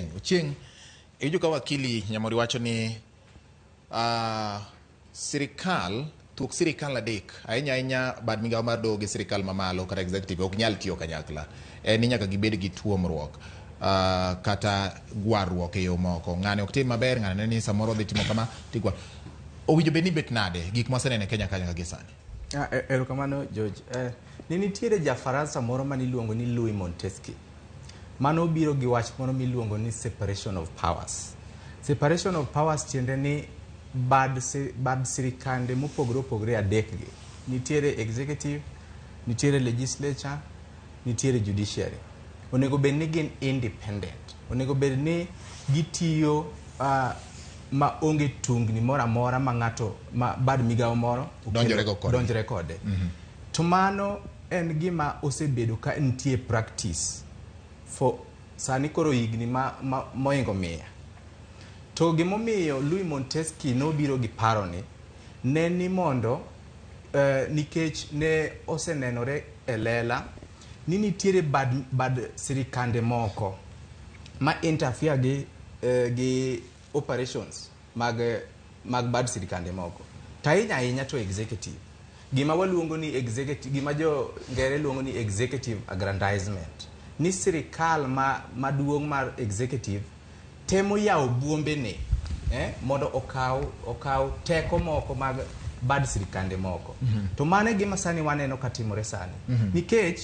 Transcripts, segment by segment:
Ochieng', iwinjo ka wakili Nyamori wacho ni ah, sirikal thuok sirikal adek ahinya ahinya bad migawo mar doho gi sirikal mamalo kata executive ok nyal tiyo kanyakla en ni nyaka gibed gi tuomruok ah, kata gwarruok e yo moko ng'ane ok tim maber ng'ane ne ni samoro odhi timo kama tigwa owinjo bed ni bet nade gik mwaseneno e Kenya kanyo gi sani Ah, e- erokamano George. Eh, ne nitiere ja Faransa moro maniluongo ni Louis Montesquieu. Mano biro gi wach moro miluongo ni separation of powers. Separation of powers tiende ni bad, bad sirikande mopogore opogore adekgi. Nitiere executive, nitiere legislature, nitiere judiciary. Onego bed ni gin independent. Onego bed ni gitiyo uh, ma onge tungni moro amora ma ng'ato ma bad migawo moro donjore kode. Mm -hmm. To mano En gima osebedo ka nitie e practice for sani koro higni ma, ma, moingo mia. To gimomiyo Louis Montesquieu nobiro gi paroni ne ni mondo eh, nikech ne osenenore e lela ni nitiere bad, bad sirikande moko ma interfere gi, eh, gi operations mag mag bad sirkande moko to ahinya ahinya to executive gima waluongo ni executive gima jo ngere luongo ni executive aggrandizement ni sirikal ma maduong' mar executive temo yawo buombene eh, mondo okaw okaw teko moko mag bad sirkande moko to mano e gima sani waneno katimore sani nikech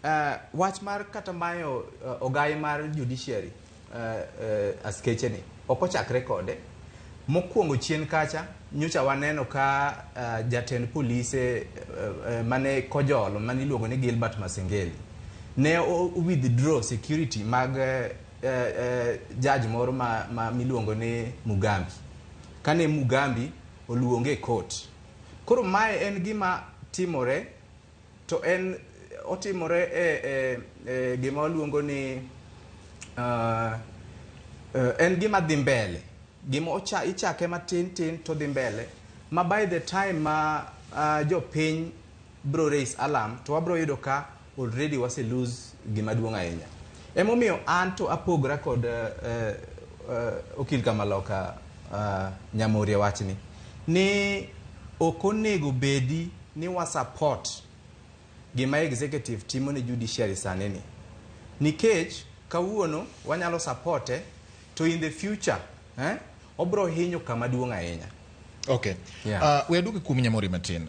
Uh, wach mar kata mayo uh, ogai mar judiciary uh, uh, askeche ni ok ochakre kode mokwongo chien kacha nyocha waneno ka uh, jatend polise uh, uh, mane kojolo mane iluongo ni Gilbert Masengeli ne o- withdraw security mag uh, uh, judge moro ma, ma miluongo ni Mugambi kane Mugambi oluonge e court koro mae en gima timore To en otimore e, e, e gima waluongo ni uh, uh, en gima dhi mbele gima ocha, ichake matin tin to dhi mbele ma by the time ma uh, jopiny bro raise alarm to wabro yudo ka already wase lose gima duong' ahinya emomiyo an to apogra kod uh, uh, okil kamaloka uh, nyamorie wachni ni ok onego bedi ni wa support gima executive timo ne judiciary sani ni nikech kawuono wanyalo supporte to in the future eh, obro hinyo kama duong' ahinya Okay. Yeah. Uh, we aduogi kuom Nyamori matin.